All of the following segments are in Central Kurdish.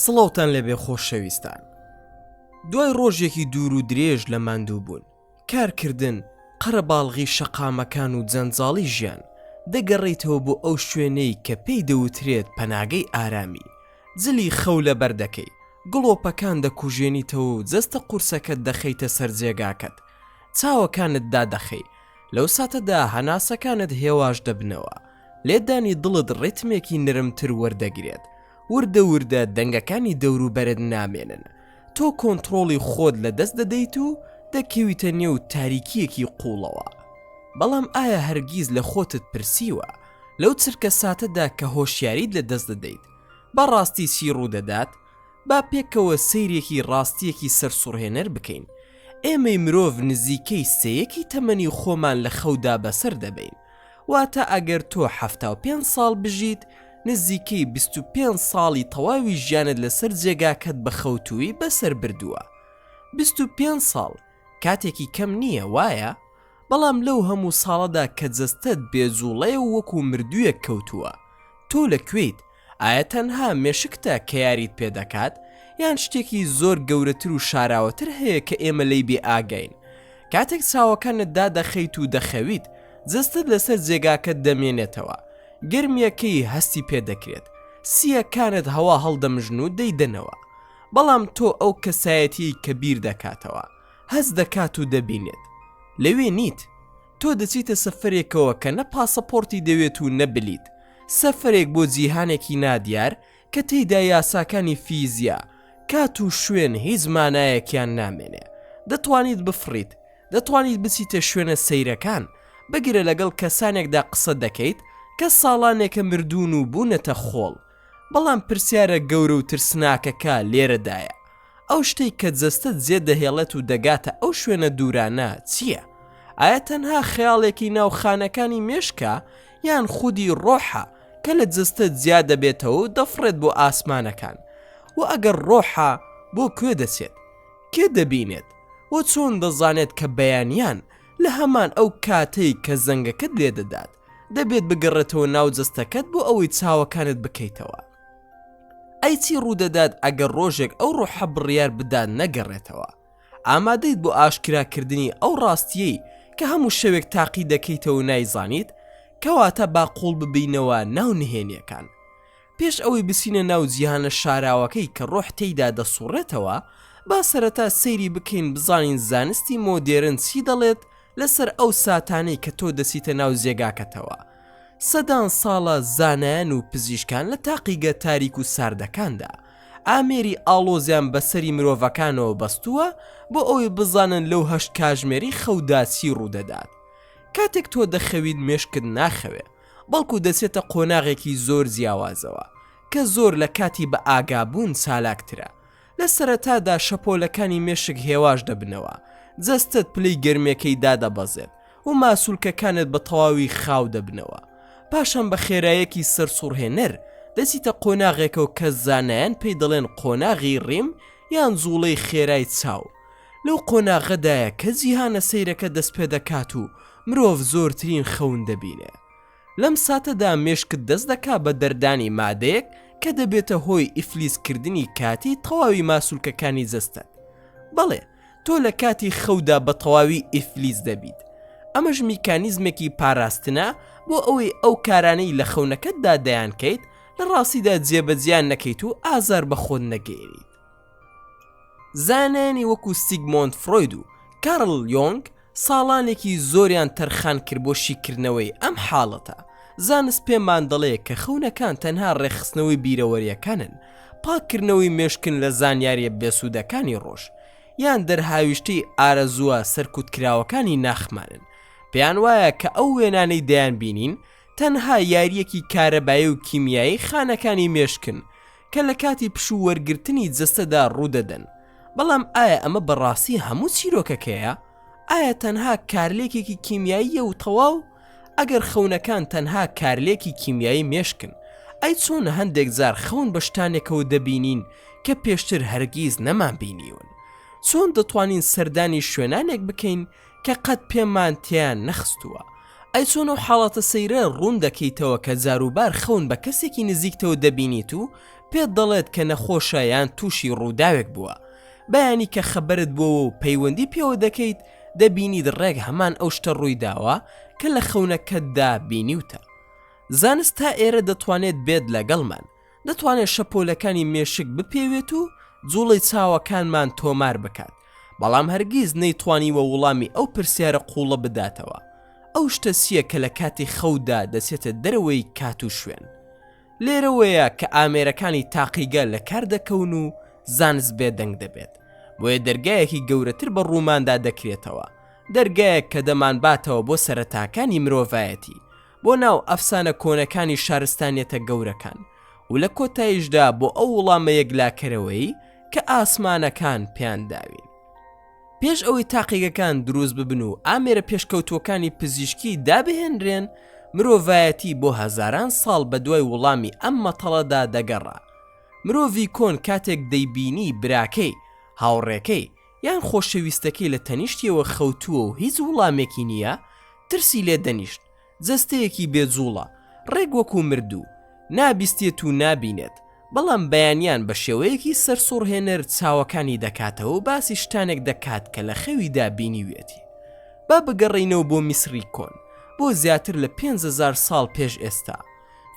سڵاوتان لێبێ خۆشەویستان. دوای ڕۆژێکی دوور و درێژ لە ماندووبوون، کارکردن، قەرەباڵغی شەقامەکان و جەنجاڵی ژیان، دەگەڕێیتەوە بۆ ئەو شوێنەی کە پێی دەوترێت پەناگەی ئارامی، جلی خەو لەبەر دەکەی، گڵۆپەکان دەکوژێنیتەوە و جەستە قورسەکەت دەخەیتە سەر جێگاکەت، چاوەکانت دادەخەی، لەو ساتەدا هەناسەکانت هێواش دەبنەوە، لێدانی دڵت ڕیتمێکی نرمتر وەردەگرێت، وردە وردە دەنگەکانی دەوروبەرت نامێنن، تۆ کۆنتڕۆڵی خۆت لەدەست دەدەیت و دەکەویتە نێو تاریکییەکی قووڵەوە. بەڵام ئایا هەرگیز لە خۆتت پرسیوە، لەو چرکەساتەدا کە هۆشیاریت لەدەست دەدەیت، بە ڕاستی چی ڕوودەدات؟ با پێکەوە سەیرێکی ڕاستییەکی سەرسوڕهێنەر بکەین، ئێمەی مرۆڤ نزیکەی سێیەکی تەمەنی خۆمان لە خەودا بەسەر دەبەین، واتە ئەگەر تۆ حەفتا و پێنج ساڵ بژیت، نزیکەی بیست و پێنج ساڵی تەواوی ژیانت لەسەر جێگاکەت بە خەوتوویی بەسەر بردووە. بیست و پێنج ساڵ کاتێکی کەم نییە، وایە؟ بەڵام لەو هەموو ساڵەدا کە جەستەت بێجووڵەیە و وەکوو مردوویەک کەوتووە، تۆ لە کوێیت؟ ئایە تەنها مێشکتە کە یاریت پێ دەکات یان شتێکی زۆر گەورەتر و شاراوەتر هەیە کە ئێمە لێی بێ ئاگین کاتێک چاوەکانت دادەخەیت و دەخەویت جستت لەسەر جێگاکەت دەمێنێتەوە گرمیەکەی هەستی پێ دەکرێت سیەکانت هەوا هەڵدەمژن و دەیدەنەوە بەڵام تۆ ئەو کەسایەتی کە بیر دەکاتەوە هەست دەکات و دەبینێت لەوێ نیت تۆ دەچیتە سەفەرێکەوە کە نە پاسەپۆرتی دەوێت و نە بلیت، سەفەرێک بۆ جیهانێکی نادیار کە تێیدا یاساکانی فیزیا، کات و شوێن هیچ مانایەکیان نامێنێ. دەتوانیت بفڕیت، دەتوانیت بچیتە شوێنە سەیرەکان، بگرە لەگەڵ کەسانێکدا قسە دەکەیت کە ساڵانێکە مردوون و بوونەتە خۆڵ. بەڵام پرسیارە گەورە و ترسناکەکە لێرەدایە، ئەو شتەی کە جەستەت جێ دەهێڵێت و دەگاتە ئەو شوێنە دوورانە چییە؟ ئایا تەنها خەیاڵێکی ناو خانەکانی مێشکە یان خودی ڕۆحە کە لە جەستە جیا دەبێتەوە و دەفڕێت بۆ ئاسمانەکان؟ وە ئەگەر ڕۆحە بۆ کوێ دەچێت؟ کێ دەبینێت؟ وە چۆن دەزانێت کە بەیانیان لە هەمان ئەو کاتەی کە زەنگەکەت لێدەدات دەبێت بگەڕێتەوە ناو جەستەکەت بۆ ئەوەی چاوەکانت بکەیتەوە ئەی چی ڕوودەدات ئەگەر ڕۆژێک ئەو ڕۆحە بڕیار بدات نەگەڕێتەوە ئامادەیت بۆ ئاشکراکردنی ئەو ڕاستیەی کە هەموو شەوێک تاقی دەکەیتەوە نایزانیت کەواتە با قوڵ ببینەوە ناو نهێنیەکان پێش ئەوەی بچینە ناو جیهانە شاراوەکەی کە ڕۆح تێیدا دەسوڕێتەوە، با سەرەتا سەیری بکەین بزانین زانستی مۆدێرن چی دەڵێت لەسەر ئەو ساتانەی کە تۆ دەچیتە ناو جێگاکەتەوە. سەدان ساڵە زانایان و پزیشکان لە تاقیگە تاریک و ساردەکاندا، ئامێری ئاڵۆزیان بە سەری مرۆڤەکانەوە بەستووە بۆ ئەوەی بزانن لەو هەشت کاژمێری خەودا چی ڕوودەدات. کاتێک تۆ دەخەویت مێشکت ناخەوێ. بەڵکو دەچێتە قۆناغێکی زۆر جیاوازەوە کە زۆر لە کاتی بەئاگابوون چالاکترە، لە سەرەتادا شەپۆلەکانی مێشک هێواش دەبنەوە، جەستەت پلەی گەرمیەکەی دادەبەزێت و ماسولکەکانت بە تەواوی خاو دەبنەوە، پاشان بە خێرایەکی سەرسوڕهێنەر دەچیتە قۆناغێکەوە کە زانایان پێی دەڵێن قۆناغی ڕیم یان جوڵەی خێرای چاو، لەو قۆناغەدایە کە جیهانە سەیرەکە دەستپێدەکات و مرۆڤ زۆرترین خەون دەبینێ. لەم ساتەدا مێشکت دەست دەکا بە دەردانی مادەیەک کە دەبێتە هۆی ئیفلیجکردنی کاتی تەواوی ماسولکەکانی جەستەت. بەڵێ، تۆ لە کاتی خەودا بە تەواوی ئیفلیج دەبیت. ئەمەش میکانیزمێکی پاراستنە بۆ ئەوەی ئەو کارانەی لە خەونەکەتدا دەیانکەیت لە ڕاستیدا جێبەجێیان نەکەیت و ئازار بە خۆت نەگەیەنیت. زانایانی وەکو سیگمۆند فرۆید و کارل یۆنگ ساڵانێکی زۆریان تەرخان کرد بۆ شیکردنەوەی ئەم حاڵەتە. زانست پێمان دەڵێ کە خەونەکان تەنها ڕێکخستنەوەی بیرەوەرییەکانن، پاککردنەوەی مێشکن لە زانیارییە بێسوودەکانی ڕۆژ، یان دەرهاویشتەی ئارەزووە سەرکوتکراوەکانی ناخمانن. پێیان وایە کە ئەو وێنانەی دەیانبینین تەنها یارییەکی کارەبایی و کیمیایی خانەکانی مێشکن کە لە کاتی پشوو وەرگرتنی جەستەدا ڕوودەدەن، بەڵام ئایا ئەمە بەڕاستی هەموو چیرۆکەکەیە؟ ئایا تەنها کارلێکێکی کیمیاییە و تەواو؟ ئەگەر خەونەکان تەنها کارلێکی کیمیایی مێشکن، ئەی چۆن هەندێک جار خەون بە شتانێکەوە دەبینین کە پێشتر هەرگیز نەمانبینیون؟ چۆن دەتوانین سەردانی شوێنانێک بکەین کە قەت پێمان تێیان نەخستووە. ئەی چۆن ئەو حاڵەتە سەیرە ڕوون دەکەیتەوە کە جاروبار خەون بە کەسێکی نزیکتەوە دەبینیت و پێت دەڵێت کە نەخۆشە یان تووشی ڕووداوێک بووە بەیانی کە خەبەرت بۆوە و پەیوەندی پێوە دەکەیت دەبینیت ڕێک هەمان ئەو شتە ڕوویداوە کە لە خەونەکەتدا بینیوتە زانست تا ئێرە دەتوانێت بێت لەگەڵمان دەتوانێت شەپۆلەکانی مێشک بپێوێت و جوڵەی چاوەکانمان تۆمار بکات بەڵام هەرگیز نەیتوانیوە وڵامی ئەو پرسیارە قوڵە بداتەوە ئەو شتە چییە کە لە کاتی خەودا دەچێتە دەرەوەی کات و شوێن لێرەوەیە کە ئامێرەکانی تاقیگە لە کار دەکەون و زانست بێدەنگ دەبێت بۆیە دەرگایەکی گەورەتر بە ڕووماندا دەکرێتەوە دەرگایەک کە دەمانباتەوە بۆ سەرەتاکانی مرۆڤایەتی بۆ ناو ئەفسانە کۆنەکانی شارستانیەتە گەورەکان و لە کۆتاییشدا بۆ ئەو وڵامە یەکلاکەرەوەی کە ئاسمانەکان پێیان داوین. پێش ئەوەی تاقیگەکان دروست ببن و ئامێرە پێشکەوتووەکانی پزیشکی دابهێنرێن، مرۆڤایەتی بۆ هەزاران ساڵ بە دوای وڵامی ئەم مەتەڵەدا دەگەڕا. مرۆڤی کۆن کاتێک دەیبینی براکەی، هاوڕێکەی، یان خۆشەویستەکەی لە تەنیشتیەوە خەوتووە و هیچ وڵامێکی نییە، ترسی لێ دەنیشت، جەستەیەکی بێ جووڵە، ڕێک وەکوو مردوو، نابیستێت و نابینێت، بەڵام بەیانیان بە شێوەیەکی سەرسوڕهێنەر چاوەکانی دەکاتەوە و باسی شتانێک دەکات کە لە خەویدا بینیویەتی. با بگەڕێینەوە بۆ میسری کۆن، بۆ زیاتر لە پێنج هەزار ساڵ پێش ئێستا.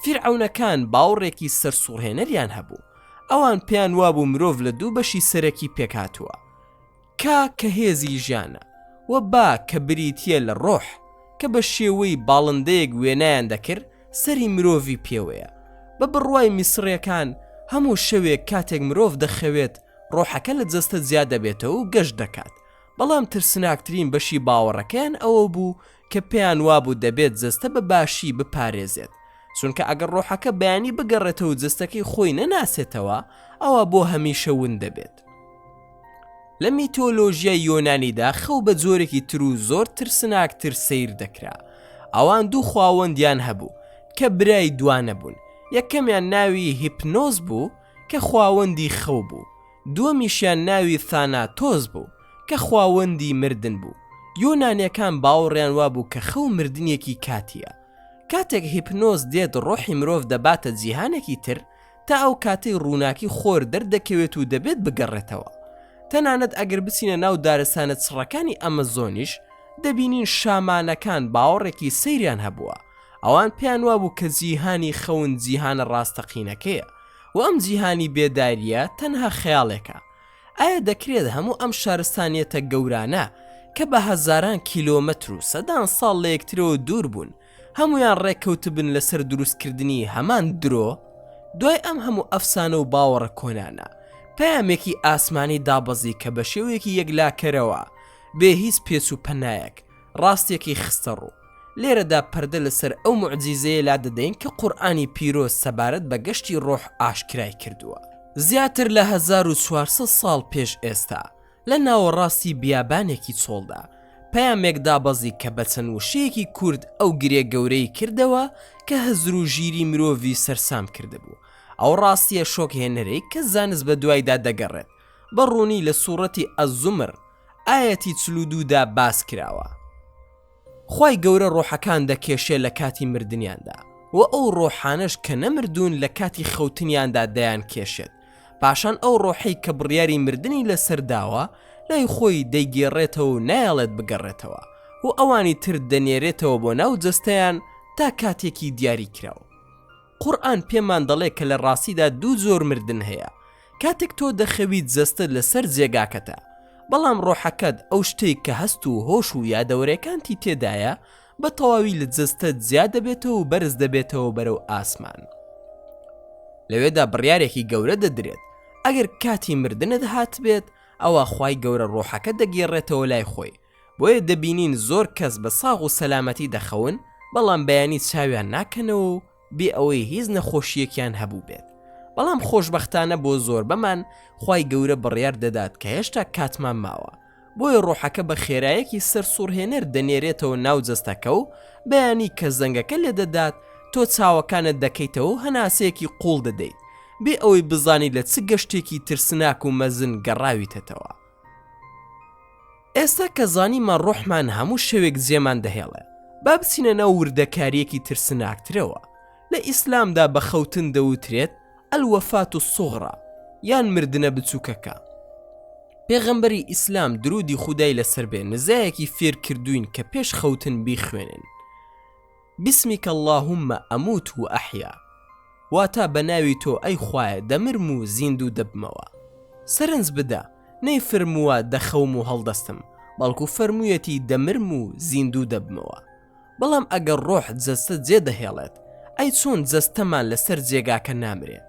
فیرعەونەکان باوڕێکی سەرسوڕهێنەریان هەبوو. ئەوان پێیان وابوو مرۆڤ لە دوو بەشی سەرەکی پێکهاتووە، کا کە هێزی ژیانە، و با کە بریتییە لە ڕۆح، کە بە شێوەی باڵندەیەک وێنایان دەکر سەری مرۆڤی پێوەیە. بە بڕوای میسڕیەکان هەموو شەوێک کاتێک مرۆڤ دەخەوێت ڕۆحەکە لە جەستە جیا دەبێتەوە و گەشت دەکات، بەڵام ترسناکترین بەشی باوەڕەکەیان ئەوە بوو کە پێیان وابوو دەبێت جەستە بە باشی بپارێزێت، چونکە ئەگەر ڕۆحەکە بەیانی بگەڕێتەوە و جەستەکەی خۆی نەناسێتەوە، ئەوا بۆ هەمیشە ون دەبێت. لە میتۆلۆژیای یۆنانیدا خەو بە جۆرێکی تر و زۆر ترسناکتر سەیر دەکرا. ئەوان دوو خواوەندیان هەبوو، کە برای دوانە بوون، یەکەمیان ناوی هیپنۆس بوو، کە خواوەندی خەو بوو، دووەمیشیان ناوی ثاناتۆس بوو کە خواوەندی مردن بوو، یۆنانیەکان باوەڕیان وابوو کە خەو مردنێکی کاتییە، کاتێک هیپنۆز دێت ڕۆحی مرۆڤ دەباتە جیهانێکی تر تا ئەو کاتەی ڕووناکی خۆر دەردەکەوێت و دەبێت بگەڕێتەوە، تەنانەت ئەگەر بچینە ناو دارستانە چڕەکانی ئەمەزۆنیش دەبینین شامانەکان باوەڕێکی سەیریان هەبووە، ئەوان پێیان وابوو کە جیهانی خەون جیهانە ڕاستەقینەکەیە، و ئەم جیهانی بێدارییە تەنها خەیاڵێکە، ئایا دەکرێت هەموو ئەم شارستانیەتە گەورانە کە بە هەزاران کیلۆمەتر و سەدان ساڵ لە یەکترەوە دوور بوون، هەموویان ڕێککەوتبن لەسەر دروستکردنی هەمان درۆ؟ دوای ئەم هەموو ئەفسانە و باوەڕە کۆنانە، پەیامێکی ئاسمانی دابەزی کە بە شێوەیەکی یەکلاکەرەوە، بێ هیچ پێچ و پەنایەک، ڕاستیەکەی خستەڕوو. لێرەدا پەردە لەسەر ئەو موعجیزەیە لادەدەین کە قورئانی پیرۆز سەبارەت بە گەشتی ڕۆح ئاشکرای کردووە. زیاتر لە هەزار و چوار سەد ساڵ پێش ئێستا، لە ناوەڕاستی بیابانێکی چۆڵدا، پەیامێک دابەزی کە بە چەند وشەیەکی کورت ئەو گرێ گەورەی کردەوە کە هزر و ژیری مرۆڤی سەرسام کردبوو. ئەو ڕاستییە شۆکهێنەرەی کە زانست بەدوایدا دەگەڕێت، بە ڕوونی لە سوڕەتی، الزمر، ئایەتی چل و دوو دا باس کراوە. خوای گەورە ڕۆحەکان دەکێشێ لە کاتی مردنیاندا وە ئەو ڕۆحانەش کە نەمردوون لە کاتی خەوتنیاندا دەیان کێشێت پاشان ئەو ڕۆحەی کە بڕیاری مردنی لەسەر داوە لای خۆی دەیگێڕێتەوە و نایەڵێت بگەڕێتەوە و ئەوانی تر دەنێرێتەوە بۆ ناو جەستەیان تا کاتێکی دیاری کراو. قورئان پێمان دەڵێ کە لە ڕاستیدا دوو جۆر مردن هەیە کاتێک تۆ دەخەویت جەستەت لەسەر جێگاکەتە بەڵام ڕۆحەکەت ئەو شتەی کە هەست و هۆش و یادەوەرێکانتی تێدایە بە تەواوی لە جەستەت جیا دەبێتەوە و بەرز دەبێتەوە بەرەو ئاسمان لەوێدا بڕیارێکی گەورە دەدرێت ئەگەر کاتی مردنت هاتبێت ئەوە خی گەورە ڕۆحەکە دەگێڕێتەوە لای خۆی بۆیە دەبینین زۆر کەس بە ساغ و سەلامەتی دەخەون، بەڵام بەیانی چاویان ناکەنەوە و بێ ئەوەی هیچ نەخۆشییەکیان هەبووبێت، بەڵام خۆشبەختانە بۆ زۆربەمان خوای گەورە بڕیار دەدات کە هێشتا کاتمان ماوە، بۆیە ڕۆحەکە بە خێرایەکی سەرسوڕهێنەر دەنێرێتەوە ناو جەستەکە و بەیانی کە زەنگەکە لێدەدات تۆ چاوەکانت دەکەیتەوە و هەناسەیەکی قوڵ دەدەیت بێ ئەوەی بزانی لە چ گەشتێکی ترسناک و مەزن گەڕاویتەتەوە. ئێستا کە زانیمان ڕۆحمان هەموو شەوێک جێمان دەهێڵێ با بچینە ناو وردەکاریەکی ترسناکترەوە، لە ئیسلامدا بە خەوتن دەوترێت الوفاة الصغری یان مردنە بچوکەکە. پێغەمبەری ئیسلام درودی خودای لەسەر بێ نزایەکی فێرکردووین کە پێش خەوتن بیخوێنن. بسمک اللهم اموت و احیا واتا بە ناوی تۆ ئەی خوایە دەمرم و زیندوو دەبمەوە سەرنج بدە نەیفرمووە دەخەوم و هەڵدەستم بەڵکو فەرموویەتی دەمرم و زیندوو دەبمەوە بەڵام ئەگەر ڕۆح جەستە جێ دەهێڵێت ئەی چۆن جەستەمان لەسەر جێگاکە نامرێ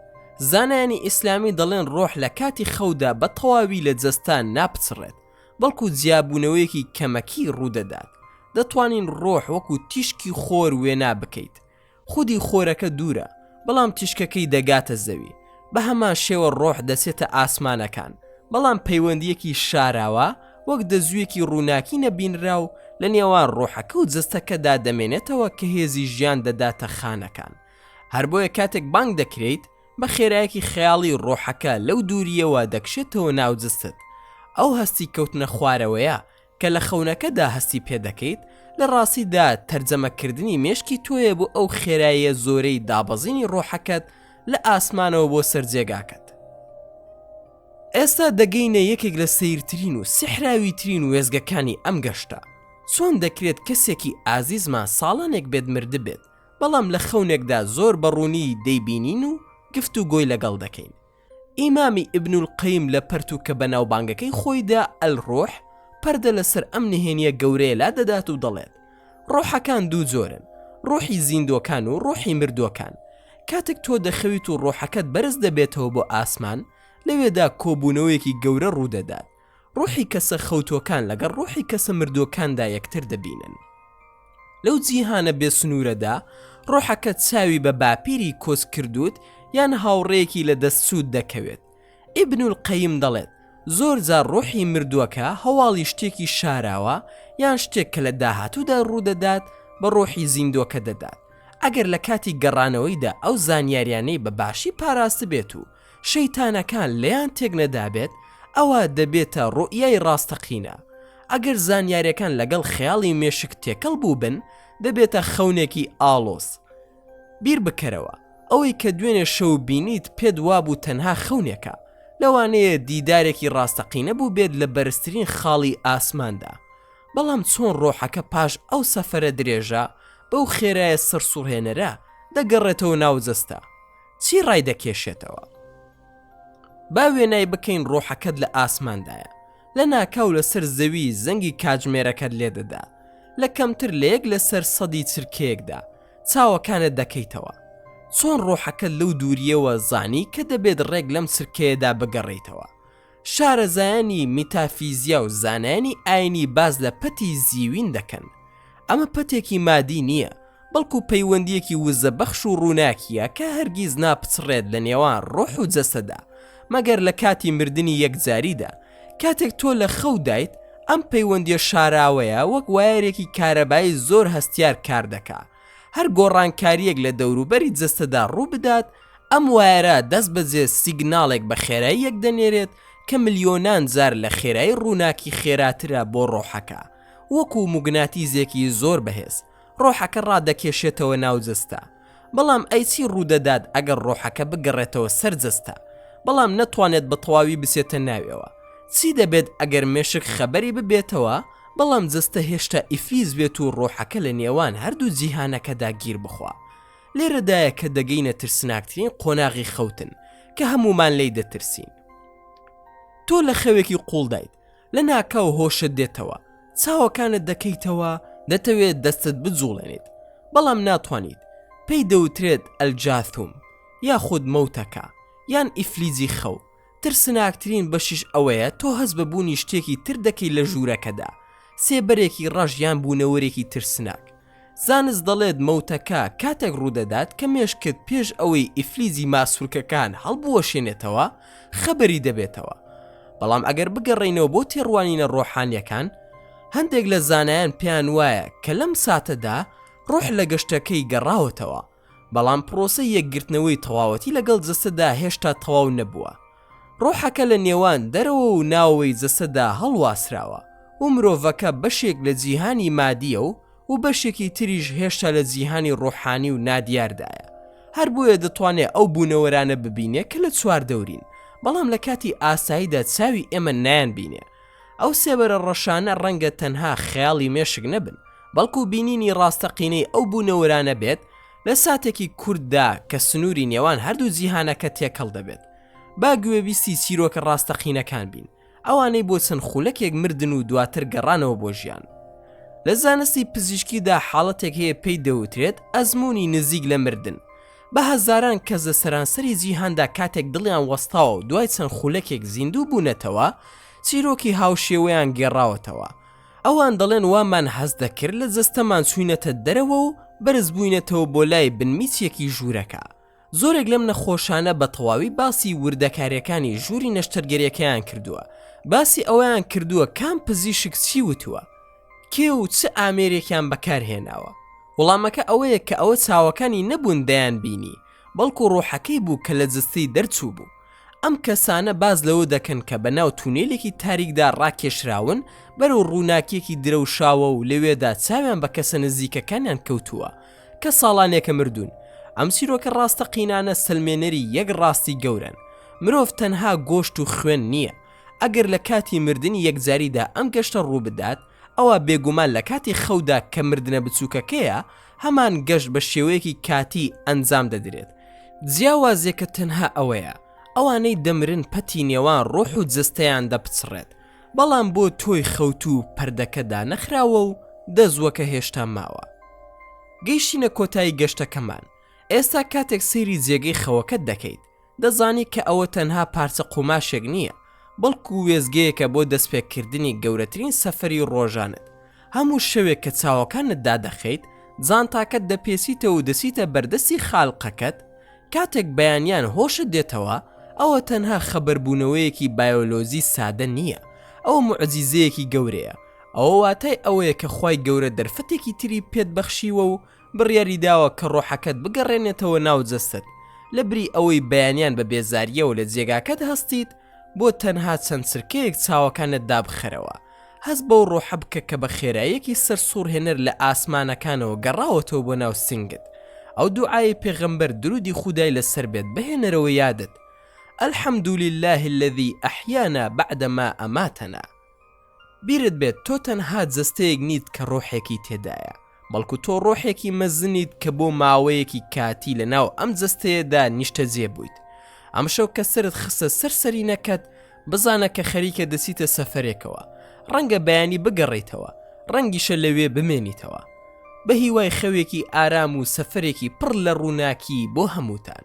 زانایانی ئیسلامی دەڵێن ڕۆح لە کاتی خەودا بە تەواوی لە جەستە ناپچڕێت بەڵکو جیابوونەوەیەکی کەمەکی ڕوودەدات، دەتوانین ڕۆح وەکو تیشکی خۆر وێنا بکەیت، خودی خۆرەکە دوورە، بەڵام تیشکەکەی دەگاتە زەوی، بەهەمان شێوە ڕۆح دەچێتە ئاسمانەکان، بەڵام پەیوەندییەکی شاراوە وەک دەزوویەکی ڕووناکی نەبینراو لە نێوان ڕۆحەکە و جەستەکەدا دەمێنێتەوە کە هێزی ژیان دەداتە خانەکان، هەربۆیە کاتێک بانگ دەکرێیت، بە خێرایەکی خەیاڵی ڕۆحەکە لەو دوورییەوە دەکشێتەوە ناو جستت ئەو هەستی کەوتنە خوارەوەیە کە لە خەونەکەدا هەستی پێ دەکەیت لە ڕاستیدا تەرجەمەکردنی مێشکی تۆیە بۆ ئەو خێراییە زۆرەی دابەزینی ڕۆحەکەت لە ئاسمانەوە بۆ سەر جێگاکەت ئێستا دەگەینە یەکێک لە سیرترین و سحراوی ترین وێزگەکانی ئەم گەشتە چۆن دەکرێت کەسێکی ئازیزمان ساڵانێک بێت مردبێت بەڵام لە خەونێکدا زۆر بە ڕوونی دەیبینین و گفت و گۆی لەگەڵ دەکەین ئیمامی ئیبن القیم لە پەرتووکە بەناوبانگەکەی خۆیدا، الروح، پەردە لەسەر ئەم نهێنیە گەورەیە لادەدات و دەڵێت، ڕۆحەکان دوو جۆرن، ڕۆحی زیندووەکان و ڕۆحی مردووەکان، کاتێک تۆ دەخەویت و ڕۆحەکەت بەرز دەبێتەوە بۆ ئاسمان، لەوێدا کۆبوونەوەیەکی گەورە ڕوودەدات، ڕوحی کەسە خەوتووەکان لەگەڵ ڕوحی کەسە مردووەکاندا یەکتر دەبینن. لەو جیهانە بێ سنوورەدا، ڕۆحەکەت چاوی بە باپیری کۆچ کردووت یان هاوڕێیەکی لە دەست چووت دەکەوێت. ئیبن القەیم دەڵێت، زۆر جار ڕوحی مردووەکە هەواڵی شتێکی شاراوە یان شتێک کە لە داهاتوودا ڕوو دەدات بە ڕوحی زیندووەکە دەدات، ئەگەر لە کاتی گەڕانەوەیدا ئەو زانیاریانەی بە باشی پاراستبێت و شەیتانەکان لێیان تێکنەدابێت ئەوا دەبێتە ڕوئیای ڕاستەقینە، ئەگەر زانیاریەکان لەگەڵ خەیاڵی مێشک تێکەڵ بووبن دەبێتە خەونێکی ئاڵۆز. بیر بکەرەوە ئەوەی کە دوێنێ شەو بینیت پێت وابوو تەنها خەونێکە، لەوانەیە دیدارێکی ڕاستەقینە بووبێت لە بەرزترین خاڵی ئاسماندا، بەڵام چۆن ڕۆحەکە پاش ئەو سەفەرە درێژە بەو خێرایە سەرسوڕهێنەرە دەگەڕێتەوە ناو جەستە؟ چی ڕایدەکێشێتەوە؟ با وێنای بکەین ڕۆحەکەت لە ئاسماندایە لە ناکاو لەسەر زەوی زەنگی کاتژمێرەکەت لێدەدا لە کەمتر لە یەک لەسەر سەدی چرکەیەکدا چاوەکانت دەکەیتەوە چۆن ڕۆحەکەت لەو دوورییەوە زانی کە دەبێت ڕێک لەم چرکەیەدا بگەڕێیتەوە شارەزایانی میتافیزیا و زانایانی ئاینی باس لە پەتی زیوین دەکەن ئەمە پەتێکی مادی نییە بەڵکو پەیوەندیەکی وزە بەخش و ڕووناکیە کە هەرگیز ناپچڕێت لە نێوان ڕۆح و جەستەدا مەگەر لە کاتی مردنی یەکجاریدا کاتێک تۆ لە خەو دایت ئەم پەیوەندیە شاراوەیە وەک وایەرێکی کارەبایی زۆر هەستیار کار دەکات هەر گۆڕانکارییەک لە دەوروبەری جەستەدا ڕووبدات، ئەم وایەرە دەستبەجێ سیگناڵێک بە خێراییەک دەنێرێت کە ملیۆنان جار لە خێرایی ڕووناکی خێراترە بۆ ڕۆحەکە، وەکو موگناتیزێکی زۆر بەهێز، ڕۆحەکە ڕادەکێشێتەوە ناو جەستە. بەڵام ئەی چی ڕوودەدات ئەگەر ڕۆحەکە بگەڕێتەوە سەر جەستە، بەڵام نەتوانێت بەتەواوی بچێتە ناویەوە؟ چی دەبێت ئەگەر مێشک خەبەری ببێتەوە بەڵام جەستە هێشتا ئیفلیج بێت و ڕۆحەکە لە نێوان هەردوو جیهانەکەدا گیر بخوا. لێرەدایە کە دەگەینە ترسناکترین قۆناغی خەوتن کە هەموومان لێی دەترسین. تۆ لە خەوێکی قووڵدایت، لەناکاو هۆشت دێتەوە، چاوەکانت دەکەیتەوە، دەتەوێت دەستت بجوڵێنیت، بەڵام ناتوانیت، پێی دەوترێت ئەلجاثوم یاخود مەوتەکە یان ئیفلیجی خەو، ترسناکترین بەشیش ئەوەیە تۆ هەست بە بوونی شتێکی تر دەکەیت لە ژوورەکەدا، سێبەرێکی ڕەش یان بوونەوەرێکی ترسناک. زانست دەڵێت مەوتەکە کاتێک ڕوودەدات کە مێشکت پێش ئەوەی ئیفلیجی ماسولکەکان هەڵبوەشێنێتەوە خەبەری دەبێتەوە. بەڵام ئەگەر بگەڕێینەوە بۆ تێڕوانینە ڕۆحانییەکان، هەندێک لە زانایان پێیانوایە کە لەم ساتەدا ڕۆح لە گەشتەکەی گەڕاوەتەوە، بەڵام پڕۆسەی یەکگرتنەوەی تەواوەتی لەگەڵ جەستەدا هێشتا تەواو نەبووە، ڕۆحەکە لە نێوان دەرەوە و ناوەوەی جەستەدا هەڵواسراوە و مرۆڤەکە بەشێک لە جیهانی مادییە و و بەشێکی تریش هێشتا لە جیهانی ڕۆحانی و نادیاردایە، هەر بۆیە دەتوانێ ئەو بوونەوەرانە ببینێ کە لە چواردەورین، بەڵام لە کاتی ئاساییدا چاوی ئێمە نایانبینێ. ئەو سێبەرە ڕەشانە ڕەنگە تەنها خەیاڵی مێشک نەبن، بەڵکو بینینی ڕاستەقینەی ئەو بوونەوەرانە بێت لە ساتێکی کورتدا کە سنووری نێوان هەردوو جیهانەکە تێکەڵ دەبێت. با گوێبیستی چیرۆکە ڕاستەقینەکان بین، ئەوانەی بۆ چەند خولەکێک مردن و دواتر گەڕانەوە بۆ ژیان. لە زانستی پزیشکیدا حاڵەتێک هەیە پێی دەوترێت ئەزموونی نزیک لە مردن، بە هەزاران کەس لە سەرانسەری جیهاندا کاتێک دڵیان وەستاوە و دوای چەند خولەکێک زیندوو بوونەتەوە، چیرۆکی هاوشێوەیان گێڕاوەتەوە. ئەوان دەڵێن وامان هەست دەکرد لە جەستەمان چووینەتە دەرەوە و بەرزبووینەتەوە بۆ لای بنمیچێکی ژوورەکە. زۆرێک لەم نەخۆشانە بە تەواوی باسی وردەکارییەکانی ژووری نەشتەرگەرییەکەیان کردووە، باسی ئەوەیان کردووە کام پزیشک چی وتووە. کێ و چ ئامێرێکیان بەکارهێناوە؟ وەڵامەکە ئەوەیە کە ئەوە چاوەکانی نەبوون دەیان بینی، بەڵکو ڕۆحەکەی بوو کە لە جەستەی دەرچوو بوو. ئەم کەسانە باس لەوە دەکەن کە بەناو تونێلێکی تاریکدا ڕاکێشراون بەرەو ڕووناکیەکی درەوشاوە و لەوێدا چاویان بە کەسە نزیکەکانیان کەوتووە کە ساڵانێکە مردوون. ئەم چیرۆکە ڕاستەقینانە سەلمێنەری یەک ڕاستی گەورەن، مرۆڤ تەنها گۆشت و خوێن نییە، ئەگەر لە کاتی مردنی یەکجاریدا ئەم گەشتە ڕووبدات، ئەوا بێگومان لە کاتی خەودا کە مردنە بچووکەکەیە، هەمان گەشت بە شێوەیەکی کاتی ئەنجام دەدرێت. جیاوازییەکە تەنها ئەوەیە، ئەوانەی دەمرن پەتی نێوان ڕۆح و جەستەیان دەپچڕێت، بەڵام بۆ تۆی خەوتوو پەردەکە دانەخراوە و دەزووەکە هێشتا ماوە. گەیشتینە کۆتایی گەشتەکەمان. ئێستا کاتێک سەیری جێگەی خەوەکەت دەکەیت. دەزانی کە ئەوە تەنها پارچە قوماشێک نییە، بەڵکو وێستگەیەکە بۆ دەستپێکردنی گەورەترین سەفەری ڕۆژانەت. هەموو شەوێک کە چاوەکانت دادەخەیت، جانتاکەت دەپێچیتەوە و دەچیتە بەردەستی خالقەکەت، کاتێک بەیانیان هۆشت دێتەوە، ئەوە تەنها خەبەربوونەوەیەکی بایۆلۆجی سادە نییە، ئەوە موعجیزەیەکی گەورەیە. ئەوە واتای ئەوەیە کە خوای گەورە دەرفەتێکی تری پێت بەخشیوە و بڕیاری داوە کە ڕۆحەکەت بگەڕێنێتەوە ناو جەستەت لە بری ئەوەی بەیانیان بە بێزاریەوە لە جێگاکەت هەستیت بۆ تەنها چەند چرکەیەک چاوەکانت دابخەرەوە هەست بەو ڕۆحە بکە کە بە خێراییەکی سەر سوڕهێنەر لە ئاسمانەکانەوە گەڕاوەتەوە بۆ ناو سنگت ئەو دوعاەی پێغەمبەر درودی خودای لەسەر بێت بهێنەرەوە یادت الحمد لله الذي احیانا بعدما اماتنا بیرت بێت تۆ تەنها جەستەیەک نیت کە ڕۆحێکی تێدایە، بەڵکو تۆ ڕۆحێکی مەزنیت کە بۆ ماوەیەکی کاتی لە ناو ئەم جەستەیەدا نیشتەجێ بوویت. ئەمشەو کە سەرت خستە سەر سەرینەکەت، بزانە کە خەریکە دەچیتە سەفەرێکەوە. ڕەنگە بەیانی بگەڕێیتەوە، ڕەنگیشە لەوێ بمێنیتەوە. بەهیوای خەوێکی ئارام و سەفەرێکی پڕ لە ڕووناکی بۆ هەمووتان.